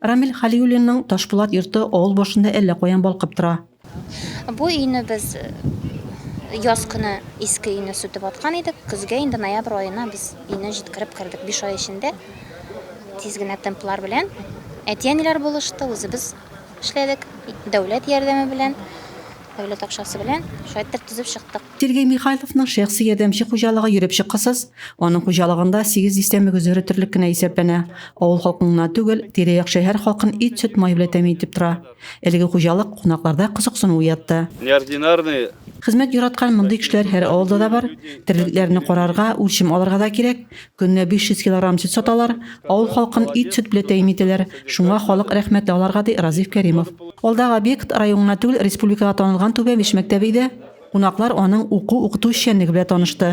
Рамил Хәлиуллинның Ташпулат йорты авыл башында әллә каян балкып тора. Бу өйне без яз көне иске өйне сүтеп аткан идек. Көзгә инде ноябрь аена без өйне җиткереп кердек. Биш ай эчендә тиз генә темплар белән әти-әниләр булышты, үзебез эшләдек. Дәүләт ярдәме белән, дәүләт акчасы белән шулай итеп төзеп чыктык. Сергей Михайловның шәхси ярдәмче хуҗалыгы йөреп чыккысыз, аның хуҗалыгында 8 дистә мөгез өре терлек кенә исәпләнә. Авыл халкын гына түгел, тирә-як шәһәр халкын ит, сөт, май белән тәэмин итеп тора. Әлеге хуҗалык кунакларда кызыксыну уятты. Неординарный. Хезмәт яраткан мондый кешеләр һәр авылда да бар. Терлекләрне карарга, үлчим алырга да кирәк. Көненә 500 килограмм сөт саталар. Авыл халкын ит, сөт белән тәэмин итәләр. Шуңа халык рәхмәтле аларга, ди Разиф Кәримов. Алдагы объект район гына түгел, республикага танылган Түбәмеш мәктәбе иде. Кунаклар аның уку-укыту эшчәнлеге белән танышты.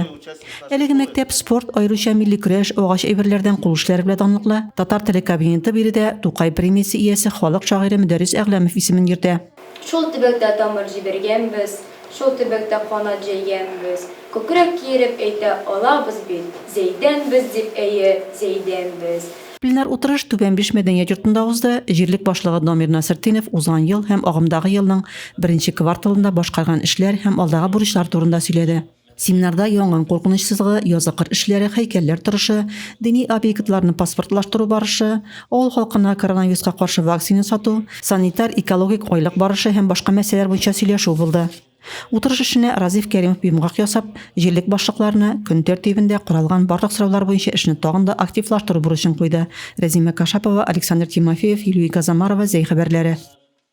Әлеге мәктәп спорт, аеруча милли көрәш, агач әйберләрдән кул эшләре белән данлыклы. Татар теле кабинеты биредә Тукай премиясе иясе, халык шагыйре Мөдәррис Әгъләмов исемен йөртә. Шул төбәктә тамыр җибәргәнбез, шул төбәктә канат җәйгәнбез, күкрәк киереп әйтә алабыз бит, Зәйдәнбез дип, әйе, Зәйдәнбез. Пленар утырыш Түбән Биш мәдәният йортында узды. Җирлек башлыгы Дамир Насертдинов узган ел һәм агымдагы елның беренче кварталында башкарган эшләр һәм алдагы бурычлар турында сөйләде. Семинарда янгын куркыныч сызыгы, язгы кыр эшләре, һәйкәлләр торышы, дини объектларны паспортлаштыру барышы, авыл халкына коронавируска каршы вакцина сату, санитар-экологик айлык барышы һәм башка мәсьәләләр буенча сөйләшү булды. Утырыш эшенә Разиф Кәримов йомгак ясап, җирлек башлыкларына көн тәртибендә каралган барлык сораулар буенча эшне тагын да активлаштыру бурычын куйды. Рәзимә Кашапова, Александр Тимофеев, Илюй Газамарова, Зәй хәбәрләре.